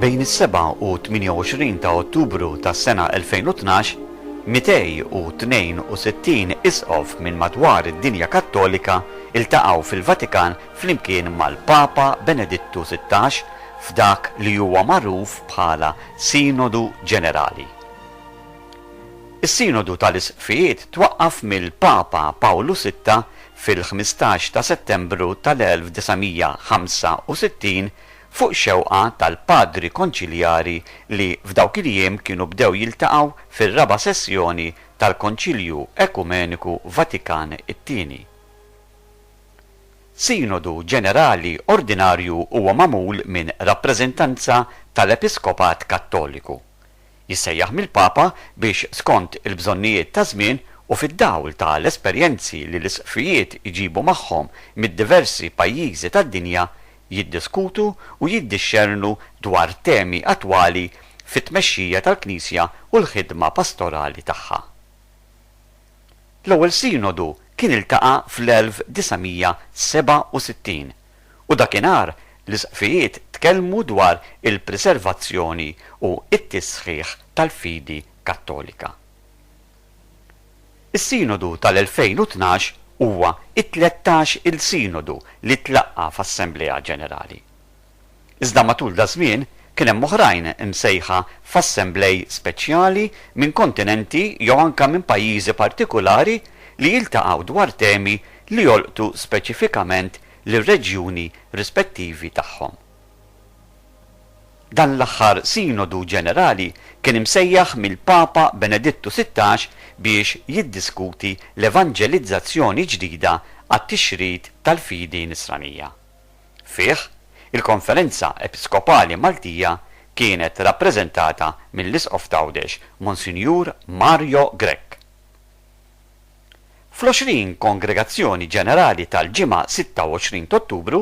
Bejn is-seba' u 28 ta' Ottubru tas-sena 2012, 262 Isqof minn madwar id-dinja Kattolika ltaqgħu fil-Vatikan flimkien mal-Papa Benedittu Sittax f'dak li huwa magħruf bħala Sinodu Ġenerali. Is-Sinodu tal-Isqfijiet twaqqaf mill-Papa Pawlu Sitta fil-ħmistax ta' Settembru tal-1965 fuq xewqa tal-Padri Konċiljari li f'dawk il-jiem kienu bdew jiltaqgħu fir-raba' sessjoni tal-Konċilju Ekumeniku Vatikan it-Tieni. Sinodu Ġenerali Ordinarju huwa magħmul minn rappreżentanza tal-Episkopat Kattoliku. Jissejjaħ mill-Papa biex skont il-bżonnijiet taż-żmien u fid-dawl ta' l-esperjenzi li l-Isqfijiet iġibu magħhom mid-diversi pajjiżi tad-dinja, jiddiskutu u jiddixxernu dwar temi attwali fit-tmexxija tal-Knisja u l-ħidma pastorali tagħha. L-ewwel Sinodu kien iltaqa' fl-1967, u dakinhar l-Isqfijiet tkellmu dwar il-preservazzjoni u t-tisħiħ tal-fidi Kattolika. Is-Sinodu tal-2012 huwa t-tlettax-il Sinodu li tlaqqa' f'Assemblea Ġenerali. Iżda matul daż-żmien kien hemm oħrajn imsejħa f'assemblej speċjali minn kontinenti jew anke minn pajjiżi partikulari li jiltaqgħu dwar temi li jolqtu speċifikament lir-reġjuni rispettivi tagħhom. Dan l-aħħar Sinodu Ġenerali kien imsejjaħ mill-Papa Benedittu Sittax biex jiddiskuti l-evanġelizzazzjoni ġdida għat-tixrid tal-fidi Nisranija. Fih, il-Konferenza Episkopali Maltija kienet rappreżentata mill-Isqof t'Għawdex, Monsinjur Mario Grech. Fl-20 Kongregazzjoni Ġenerali tal-Ġimgħa 26 t'Ottubru,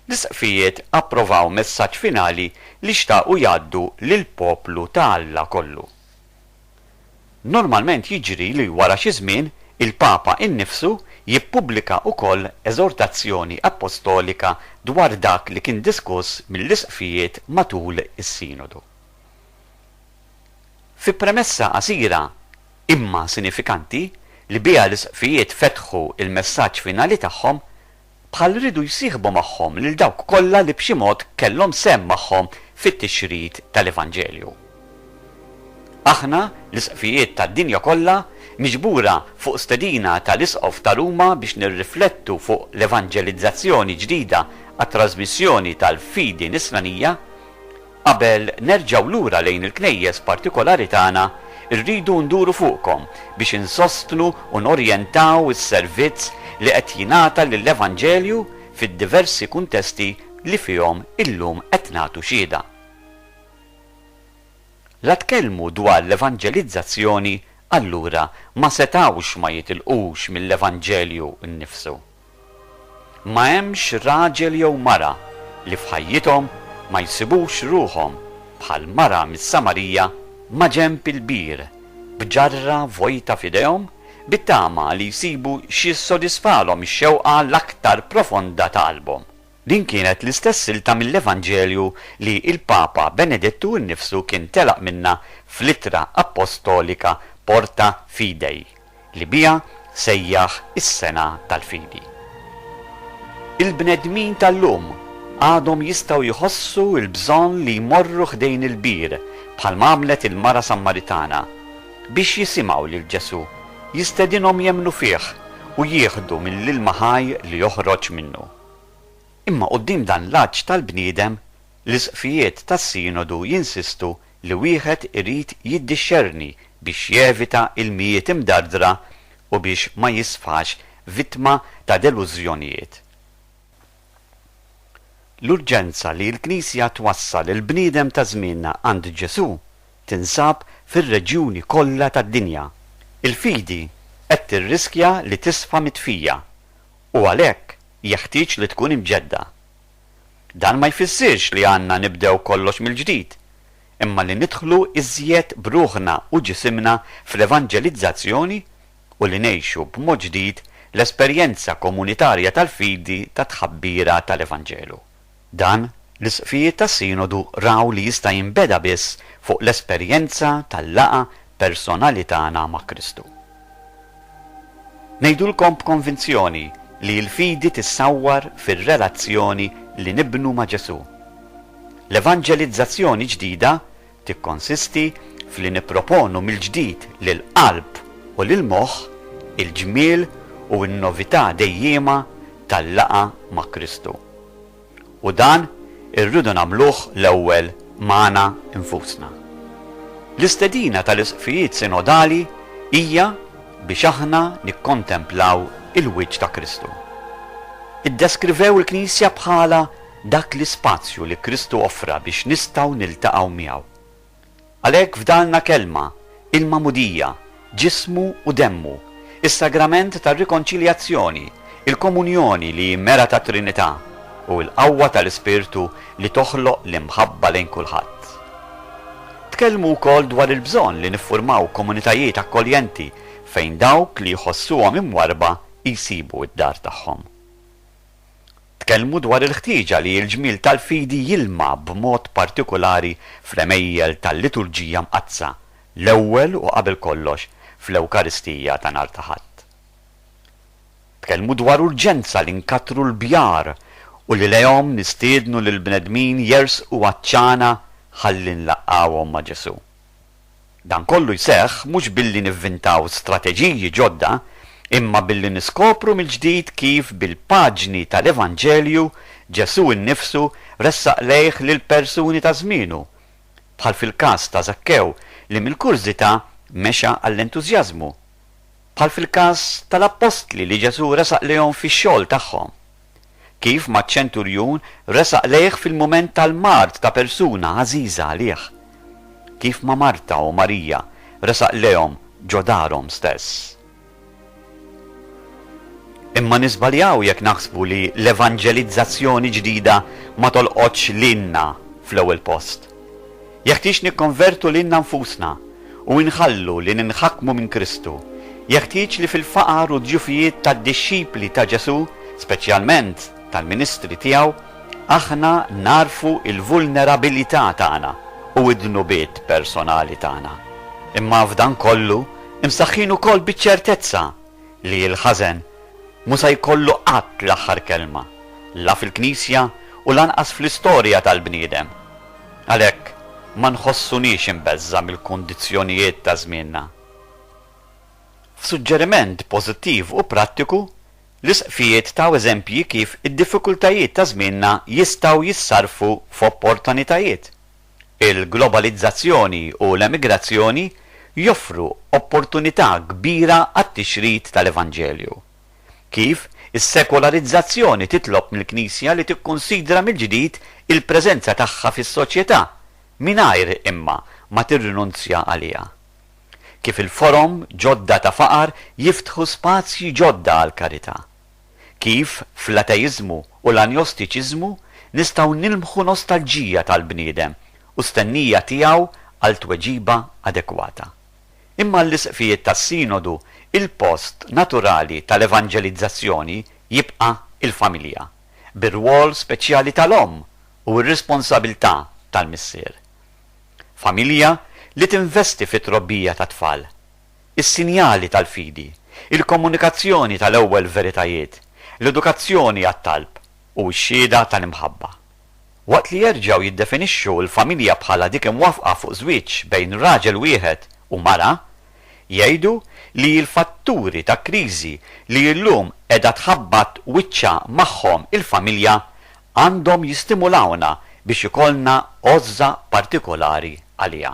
l-Isqfijiet approvaw messaġġ finali li xtaqu jgħaddu lill-poplu ta' Alla kollu. Normalment jiġri li wara xi żmien il-Papa innifsu jippubblika wkoll eżortazzjoni appostolika dwar dak li kien diskuss mill-Isqfijiet matul is-Sinodu. Fi premessa qasira, imma sinifikanti, li biha l-Isqfijiet fetħu l-messaġġ finali tagħhom, bħal riedu jsieħbu magħhom lil dawk kollha li b'xi mod kellhom sehem magħhom fit-tixrid tal-Evanġelju. Aħna, l-Isqfijiet tad-dinja kollha, miġbura fuq stedina tal-Isqof ta' Ruma biex nirriflettu fuq l-evanġelizzazzjoni ġdida għat-trażmissjoni tal-fidi Nisranija, Qabel nerġgħu lura lejn il-knejjes partikolari tagħna, irridu nduru fuqkom biex insostnu u norjentaw is-servizz li qed jingħata lill-evanġelju fid-diversi kuntesti li fihom illum qed nagħtu xhieda. La tkellmu dwar l-evanġelizzazzjoni allura ma setgħux ma jitilqux mill-evanġelju nnifsu. Ma hemmx raġel jew mara li f'ħajjithom ma jsibux ruħhom bħall-mara mis-Samarija maġenb il-bir, b'ġarra vojta f'idejhom, bit-tama li jsibu x'jissodisfalhom ix-xewqa l-aktar profonda ta' qalbhom. Din kienet l-istess silta mill-Evanġelju li l-Papa Benedittu nnifsu kien telaq minnha fl-ittra appostolika Porta Fidei, li biha sejjaħ is-Sena tal-Fidi. Il-bnedmin tal-lum għadhom jistgħu jħossu l-bżonn li jmorru ħdejn il-bir, bħalma għamlet il-mara Sammaritana, biex jisimgħu lil Ġesù jistedinhom jemmnu fih u jieħdu mill-ilma ħaj li joħroġ minnu. Imma quddiem dan l-għatx tal-bniedem, l-Isqfijiet tas-Sinodu jinsistu li wieħed irid jiddixxerni biex jevita ilmijiet imdardra u biex ma jisfax vittma ta' delużjonijiet. L-urġenza li l-Knisja twassal il-bniedem ta' żmienna għand Ġesù tinsab fir-reġjuni kollha tad-dinja. Il-fidi qed tirriskja li tisfa mitfija, u għalhekk jeħtieġ li tkun imġedda. Dan ma jfissirx li għandna nibdew kollox mill-ġdid, imma li nidħlu iżjed b'ruħna u ġisimna fl-evanġelizzazzjoni u li ngħixu b'mod ġdid l-esperjenza komunitarja tal-fidi tat-tħabbira tal-Evanġelu. Dan, l-Isqfijiet tas-Sinodu raw li jista' jinbeda biss fuq l-esperjenza tal-laqgħa personali tagħna ma' Kristu. Ngħidulkom b'konvinzjoni li l-fidi tissawwar fir-relazzjoni li nibnu ma' Ġesù. L-evanġelizzazzjoni ġdida tikkonsisti f'li nipproponu mill-ġdid lill-qalb u lill-moħħ il-ġmiel u n-novità dejjiema tal-laqgħa ma' Kristu. U dan irridu nagħmluh l-ewwel magħna nfusna. L-istedina tal-Isqfijiet Sinodali hija biex aħna nikkontemplaw il-wiċċ ta' Kristu. Iddeskrivew il-Knisja bħala dak l-ispazju li Kristu offra biex nistgħu niltaqgħu miegħu. Għalhekk f'darna Kelma, il-Magħmudija, Ġismu u Demmu, is-Sagrament tar-Rikonċiljazzjoni, il-Komunjoni li hi mera tat-Trinità, u l-qawwa tal-Ispirtu li toħloq l-imħabba lejn kulħadd. Tkellmu wkoll dwar il-bżonn li niffurmaw komunitajiet akkoljenti fejn dawk li jħossuhom imwarrba jsibu d-dar tagħhom. Tkellmu dwar il-ħtieġa li l-ġmiel tal-fidi jilma' b'mod partikulari fl-għemejjel tal-Liturġija Mqaddsa, l-ewwel u qabel kollox fl-Ewkaristija ta' nhar ta' Ħadd. Tkellmu dwar urġenza li nkattru l-bjar u li lejhom nistiednu lill-bnedmin jersqu għaċ-ċana ħalli nlaqqgħuhom ma' Ġesù. Dan kollu jseħħ mhux billi nivvintaw strateġiji ġodda imma billi niskopru mill-ġdid kif bil-paġni tal-Evanġelju Ġesù nnifsu ressaq lejh lill-persuni ta' żmienu, bħal fil-każ ta' Żakkew li mill-kurżità mexa għall-entużjażmu, bħal fil-każ tal-appostli li Ġesù resaq lejhom fix-xogħol tagħhom. kif maċ-ċenturjun resaq lejh fil-mument tal-mard ta' persuna għażiża għalih, kif ma' Marta u Marija resaq lejhom ġo darhom stess. Imma niżbaljaw jekk naħsbu li l-evanġelizzazzjoni ġdida ma tolqotx lilna fl-ewwel post. Jeħtieġ nikkonvertu lilna nfusna u inħallu li ninħakmu minn Kristu. Jeħtieġ li fil-faqar u d-djufijiet tad-dixxipli ta' Ġesù, speċjalment tal-ministri tiegħu, aħna nagħrfu l-vulnerabilità tagħna u d-dnubiet personali tagħna. Imma f'dan kollu, imsaħħin ukoll biċ-ċertezza li l-ħażen mhu se jkollu qatt l-aħħar kelma, la fil-Knisja u lanqas fl-istorja tal-bniedem. Għalhekk ma nħossuniex imbeżża' mill-kundizzjonijiet ta' żmienna. F'suġġeriment pożittiv u prattiku, l-Isqfijiet taw eżempji kif id-diffikultajiet ta' żmienna jistgħu jissarrfu f'opportanitajiet. Il-globalizzazzjoni u l-emigrazzjoni joffru opportunità kbira għat-tixrid tal-evanġelju. Kif is-sekolarizzazzjoni titlob mill-Knisja li tikkunsidra mill-ġdid il-preżenza tagħha fis-soċjetà mingħajr imma ma tirrinunzja għaliha? Kif il-forom ġodda ta' faqar jiftħu spazji ġodda għall-karità? Kif, fl-ateiżmu u l-anjostiċiżmu, nistgħu nilmħu nostalġija tal-bniedem u stennija tiegħu għal tweġiba adekwata. Imma għall-Isqfijiet tas-Sinodu l-post naturali tal-evanġelizzazzjoni jibqa' l-familja, bir-rwol speċjali tal-omm u r-responsabilità tal-missier. Familja li tinvesti fit-trobbija tat-tfal. is-sinjali tal-fidi, il-komunikazzjoni tal-ewwel veritajiet, l-edukazzjoni għat-talb, u x-xhieda tal-imħabba. Waqt li jerġgħu jiddefinixxu l-familja bħala dik imwaffqa fuq żwieġ bejn raġel wieħed u mara, jgħidu li l-fatturi ta' kriżi li llum qiegħda tħabbat wiċċha magħhom il-familja għandhom jistimulawna biex ikollna għożża partikolari għaliha.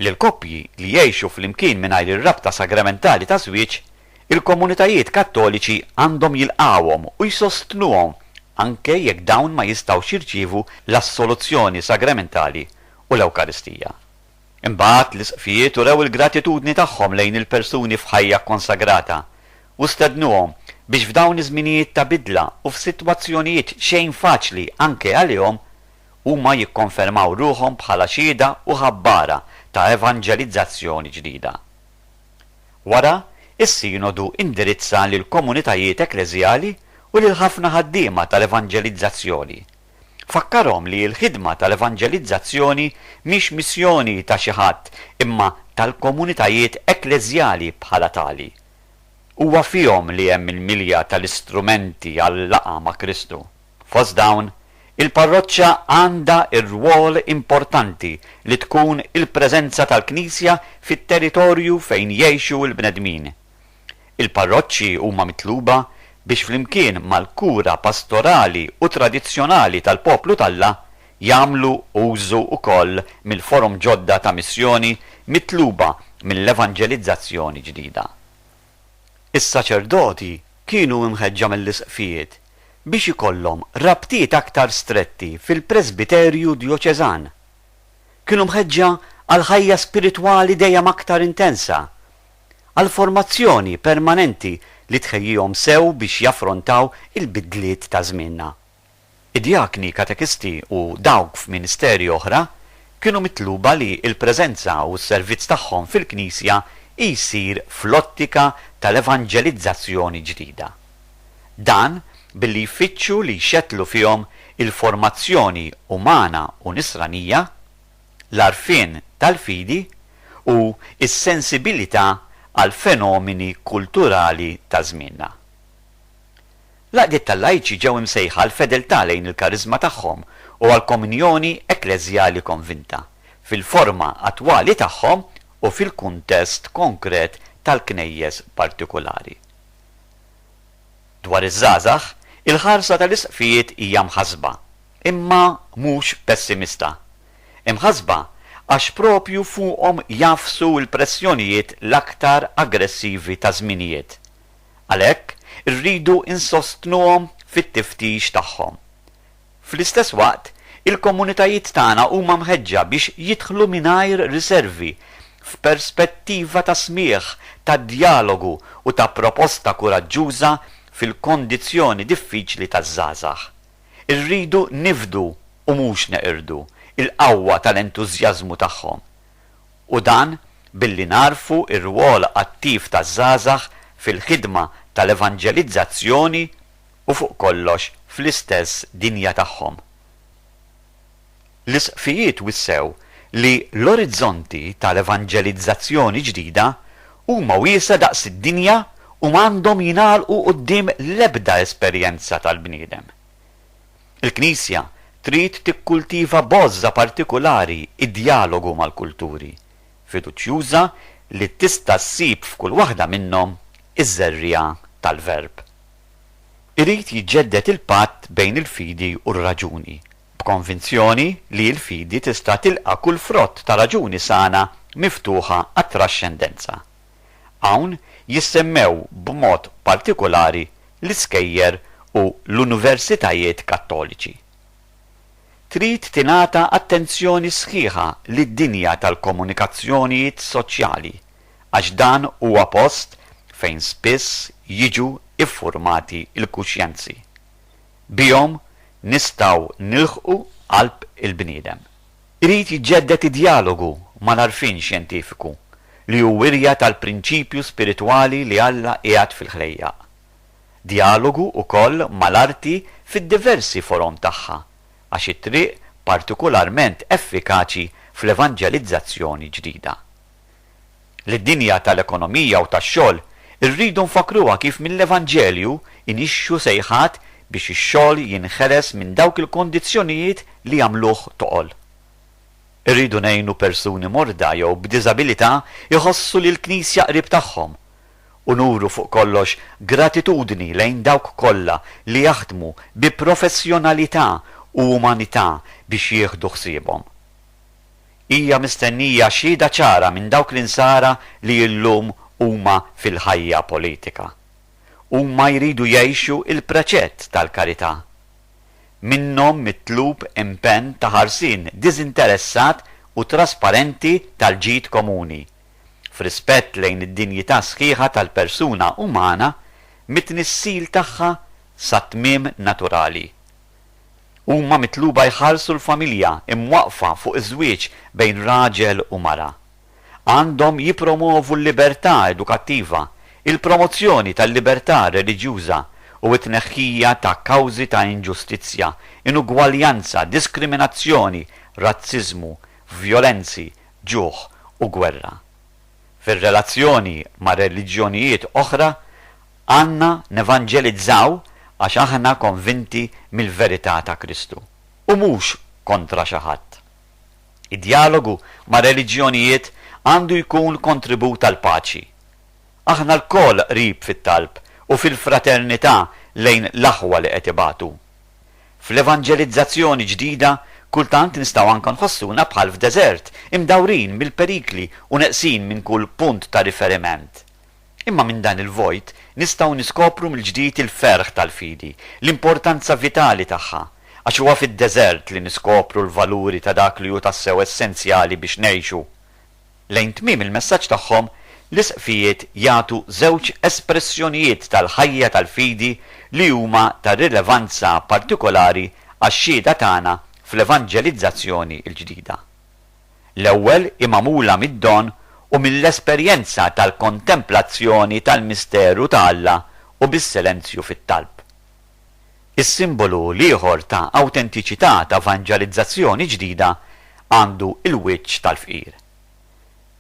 Lil koppji li jgħixu flimkien mingħajr ir-rabta sagramentali ta' żwieġ, il-komunitajiet Kattoliċi għandhom jilqgħuhom u jsostnuhom anke jekk dawn ma jistgħux jirċievu l-assoluzzjoni sagramentali u l-Ewkaristija. Imbagħad, l-Isqfijiet urew il-gratitudni tagħhom lejn il-persuni f'ħajja kkonsagrata u stednuhom biex f'dawn iż-żminijiet ta' bidla u f'sitwazzjonijiet xejn faċli anke għalihom, Huma jikkonfermaw ruħhom bħala xhieda u ħabbara ta' evanġelizzazzjoni ġdida. Wara, is-Sinodu indirizza lill-komunitajiet ekkleżjali u lil ħafna ħaddiema tal-evanġelizzazzjoni. Fakkarhom li l-ħidma tal-evanġelizzazzjoni mhix missjoni ta' xi ħadd imma tal-komunitajiet ekkleżjali bħala tali. Huwa fihom li hemm il-milja tal-istrumenti għal-laqgħa ma' Kristu. Fost dawn, il-parroċċa għandha r-rwol importanti li tkun il-preżenza tal-Knisja fit-territorju fejn jgħixu l-bnedmin. Il-parroċċi huma mitluba biex flimkien mal-kura pastorali u tradizzjonali tal-poplu t'Alla, jagħmlu użu wkoll mill-forom ġodda ta' missjoni mitluba mill-evanġelizzazzjoni ġdida. Is-saċerdoti kienu imħeġġa mill-isqfijiet biex ikollhom rabtiet aktar stretti fil-presbiterju djoċeżan. Kienu mħeġġa għal ħajja spiritwali dejjem aktar intensa, għal formazzjoni permanenti li tħejjihom sew biex jaffrontaw il-bidliet ta' żmienna. Id-djakni, katekisti u dawk f'ministeri oħra kienu mitluba li l-preżenza u s-servizz tagħhom fil-Knisja jsir fl-ottika tal-evanġelizzazzjoni ġdida. Dan billi jfittxu li jxettlu fihom il-formazzjoni umana u nisranija, l-għarfien tal-fidi u s-sensibilità għall-fenomeni kulturali ta' żmienna. L-għaqdiet tal-lajċi ġew imsejħa għall-fedeltà lejn il-kariżma tagħhom u għall-komunjoni ekkleżjali konvinta, fil-forma attwali tagħhom u fil-kuntest konkret tal-Knejjes partikulari. Dwar iż-żgħażagħ, il-ħarsa tal-Isqfijiet hija mħassba, imma mhux pessimista. Imħassba għax proprju fuqhom jagħfsu l-pressjonijiet l-aktar aggressivi taż-żminijiet. Għalhekk, irridu nsostnuhom fit-tiftix tagħhom. Fl-istess waqt, il-komunitajiet tagħna huma mħeġġa biex jidħlu mingħajr riservi f'perspettiva ta' smigħ, ta' djalogu u ta' proposta kuraġġuża fil-kondizzjoni diffiċli taż-żgħażagħ. Irridu nifdu, u mhux neqirdu, il-qawwa tal-entużjażmu tagħhom. u dan billi nagħrfu r-rwol attiv taż-żgħażagħ fil-ħidma tal-evanġelizzazzjoni u fuq kollox fl-istess dinja tagħhom. L-Isqfijiet wissew li l-orizzonti tal-evanġelizzazzjoni ġdida huma wiesgħa daqs id-dinja u m'għandhom jingħalqu quddiem l-ebda esperjenza tal-bniedem. Il-Knisja trid tikkultiva b'għożża partikulari d-djalogu mal-kulturi, fiduċjuża li tista' ssib f'kull waħda minnhom iż-żerriegħa tal-Verb. Irid jiġġedded il-patt bejn il-fidi u r-raġuni, b'konvinzjoni li l-fidi tista' tilqa' kull frott ta' raġuni sana miftuħa għat-traxxendenza. Hawn jissemmew b'mod partikulari l-iskejjer u l-universitajiet Kattoliċi. Trid tingħata attenzjoni sħiħa lid-dinja tal-komunikazzjonijiet soċjali għax dan huwa post fejn spiss jiġu ffurmati l-kuxjenzi. Bihom nistgħu nilħqu qalb il-bniedem. Irid jiġġedded id-djalogu mal-għarfien xjentifiku, li hu wirja tal-prinċipju spiritwali li Alla qiegħed fil-ħlejjaq. Djalogu wkoll mal-arti fid-diversi forom tagħha, għax hi triq partikularment effikaċi fl-evanġelizzazzjoni ġdida. li d-dinja tal-ekonomija u tax-xogħol irridu nfakkruha kif mill-Evanġelju inixxu sejħat biex ix-xogħol jinħeles minn dawk il-kondizzjonijiet li jagħmluh toqol. Irridu ngħinu persuni morda jew b'diżabilità jħossu li l-Knisja qrib tagħhom, u nuru fuq kollox gratitudni lejn dawk kollha li jaħdmu bi professjonalità u umanità biex jieħdu ħsiebhom. Hija mistennija xhieda ċara minn dawk l-insara li illum huma fil-ħajja politika. Huma jridu jgħixu il-preċett tal-karità. Minnhom mitlub impenn ta' ħarsien diżinteressat u trasparenti tal-ġid komuni, f'rispett lejn id-dinjità sħiħa tal-persuna umana mit-tnissil tagħha sat-tmiem naturali. Huma mitluba jħarsu l-familja imwaqqfa fuq iż-żwieġ bejn raġel u mara. Għandhom jippromwovu l-libertà edukattiva, il-promozzjoni tal-libertà reliġjuża u t-tneħħija ta' kawżi ta' inġustizzja, inugwaljanza, diskriminazzjoni, razziżmu, vjolenzi, ġuħ u gwerra. Fir-relazzjoni ma' reliġjonijiet oħra, Għandna nevanġelizzaw għax aħna konvinti mill-verità ta' Kristu, u mhux kontra xi ħadd. Id-djalogu mar-reliġjonijiet għandu jkun kontribut għall-paċi. Aħna lkoll qrib fit-talb u fil-fraternità lejn l-aħwa li qed ibatu. Fl-evanġelizzazzjoni ġdida kultant nistgħu anke nħossuna bħal f'deżert, imdawrin mill-perikli u neqsin minn kull punt ta' riferiment. Imma minn dan il-vojt nistgħu niskopru mill-ġdid il-ferħ tal-fidi, l-importanza vitali tagħha, għax huwa fid-deżert li niskopru l-valuri ta' dak li hu tassew essenzjali biex ngħixu. Lejn tmiem il-messaġġ tagħhom, l-Isqfijiet jagħtu żewġ espressjonijiet tal-ħajja tal-fidi li huma ta' rilevanza partikolari għax-xhieda tagħna fl-evanġelizzazzjoni l-ġdida. l-ewwel hi magħmula mid-don u mill-esperjenza tal-kontemplazzjoni tal-misteru ta' Alla u bis-silenzju fit-talb. Is-simbolu l-ieħor ta' awtentiċità ta' vanġalizzazzjoni ġdida għandu l-wiċċ tal-fqir.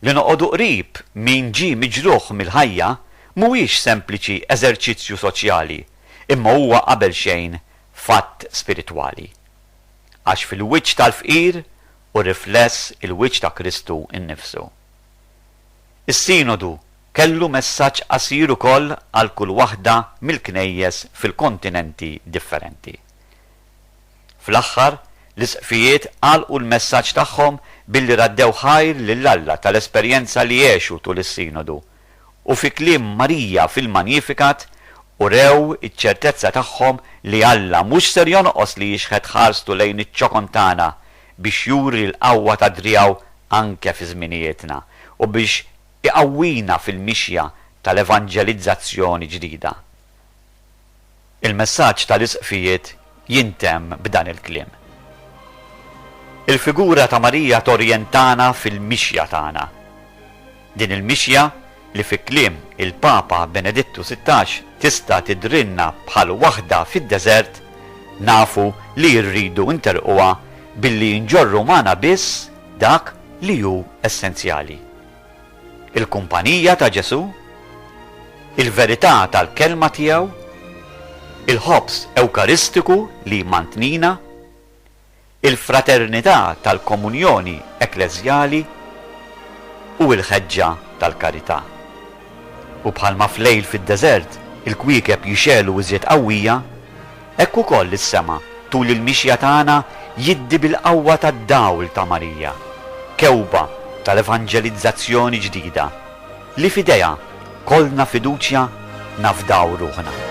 Li noqogħdu qrib min ġie miġruħ mill-ħajja mhuwiex sempliċi eżerċizzju soċjali imma huwa qabelxejn fatt spiritwali. Għax fil-wiċċ tal-fqir u rifless il-wiċċ ta' Kristu nnifsu. Is-Sinodu kellu messaġġ qasir ukoll għal kull waħda mill-Knejjes fil-kontinenti differenti. Fl-aħħar, l-Isqfijiet għalqu l-messaġġ tagħhom billi raddew ħajr lil Alla tal-esperjenza li għexu tul is-Sinodu u fi kliem Marija fil-Magnificat urew iċ-ċertezza tagħhom li Alla mhux ser jonqos li jixħet ħarstu lejn iċ-ċokon tagħna biex juri l-qawwa ta' driegħu anke fi żminijietna u biex iqawwina fil-mixja tal-evanġelizzazzjoni ġdida. Il-messaġġ tal-Isqfijiet jintemm b'dan il-kliem. Il-figura ta' Marija torjentana fil-mixja tagħna. Din il-mixja li fi kliem il-Papa Benedittu Sittax tista' tidhrilna bħal waħda fid-deżert, nafu li rridu nterrquha billi nġorru magħna biss dak li hu essenzjali. il-kumpanija ta' Ġesù, il-verità tal-Kelma tiegħu, il-ħobż Ewkaristiku li jmantnina, il-fraternità tal-komunjoni ekkleżjali u l-ħeġġa tal-karità. U bħalma f'lejl fid-deżert il-kwiekeb jixegħlu iżjed qawwija, Hekk ukoll is-sema tul il-mixja tagħna jiddi bil-qawwa tad-dawl ta' Marija, kewba tal-evanġelizzazzjoni ġdida, li f'idejha kollna fiduċja nafdaw ruħna.